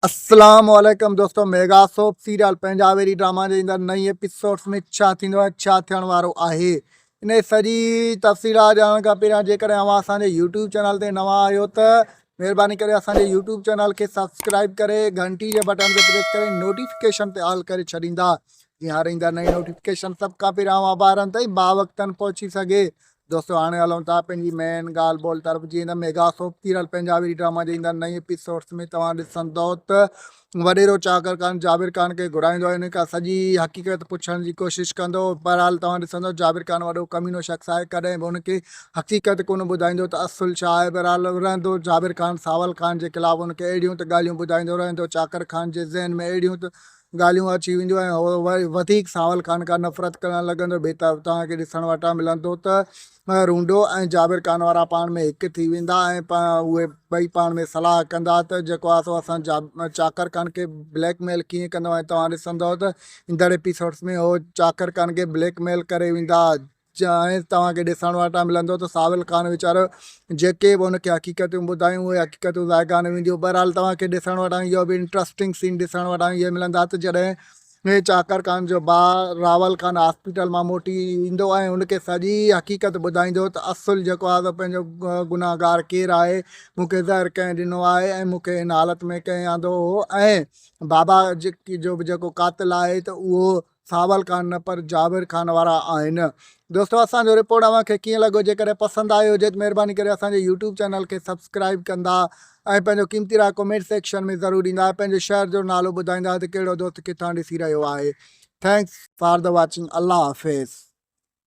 اسلام عليڪم دوستو ميگا سوپ سيريل پنهنجا ويري ڊراما جي ايندڙ نئين ايپيسوڊس ۾ ڇا ٿيندو ۽ ڇا ٿيڻ وارو آهي ان جي سڄي تفصيلات ڄاڻڻ کان پهريان جيڪڏهن اوهان اسان جي يوٽيوب چينل تي نوان آهيو ته مهرباني ڪري اسان جي يوٽيوب چينل کي سبسڪرائب ڪري گهنٽي جي بٽن تي پريس ڪري نوٽيفڪيشن تي آل ڪري ڇڏيندا جيئن هر ايندڙ نئين نوٽيفڪيشن سڀ کان پهريان اوهان ٻارن تائين باوقتن پهچي سگهي دوستو هاڻي هلون ٿا پنهنجي مين ڳالهه ٻولهه طرف جي هن mega soap serial Punjabi drama جي ايندڙ نئين ايپيسوڊس ۾ توهان ڏسندو ته وڏيرو چاڪر خان جابر خان کي گهرائيندو ان کان سڄي حقيقت پڇڻ جي ڪوشش ڪندو بهرحال توهان ڏسندو جابر خان وڏو ڪمينو شخص آهي ڪڏهن به ان کي حقيقت ڪونه ٻڌائيندو ته اصل ڇا آهي بهرحال رهندو جابر خان ساول خان جي خلاف ان کي اهڙيون ته ڳالهيون ٻڌائيندو رهندو چاڪر خان جي ذهن ۾ اهڙيون ته ڳالهيون اچي وينديون ۽ هو وري وڌيڪ ساول خان کان نفرت ڪرڻ لڳندو. بيتاب توهان کي ڏسڻ وٽان ملندو ته رونڊو ۽ جابر خان وارا پاڻ ۾ هڪ ٿي ويندا ۽ اهي ٻئي پاڻ ۾ صلاح ڪندا ته جيڪو آهي سو اسان چاڪر خان کي بليڪ ميل ڪيئن ڪندو ۽ توهان ڏسندؤ ته ايندڙ ايپيسوڊس ۾ هو چاڪر خان کي بليڪ ميل ڪري ويندا. جيئن توهان کي ڏسڻ وٽان ملندو ته ساول خان ويچارو جيڪي به ان کي حقيقتون ٻڌايون اهي حقيقتون ذائقا نه وينديون بهرحال توهان کي ڏسڻ وٽان اهو به انٽرسٽنگ سين ڏسڻ وٽان اهي ملندا ته جڏهن چاڪر خان جو ڀاء راول خان هاسپيٽل مان موٽي ايندو ۽ ان کي سڄي حقيقت ٻڌائيندو ته اصل جيڪو آهي سو پنهنجو گنهگار ڪير آهي مون کي زهر ڪنهن ڏنو آهي ۽ مون کي هن حالت ۾ ڪنهن آندو هو ۽ بابا جيڪي جو به جيڪو قاتل آهي ته اهو ساول خان نه پر جاوير خان وارا آهن. دوستو اسان جو رپورٽ اوهان کي ڪيئن لڳو جيڪڏهن پسند آيو هجي ته مهرباني ڪري اسان جي يوٽيوب چينل کي سبسڪرائيب ڪندا ۽ پنهنجو قيمتي راء ڪمينٽ سيڪشن ۾ ضرور ڏيندا ۽ پنهنجي شهر جو نالو ٻڌائيندا ته ڪهڙو دوست ڪٿان ڏسي رهيو آهي ٿينڪس فار دي واچنگ الله حافظ.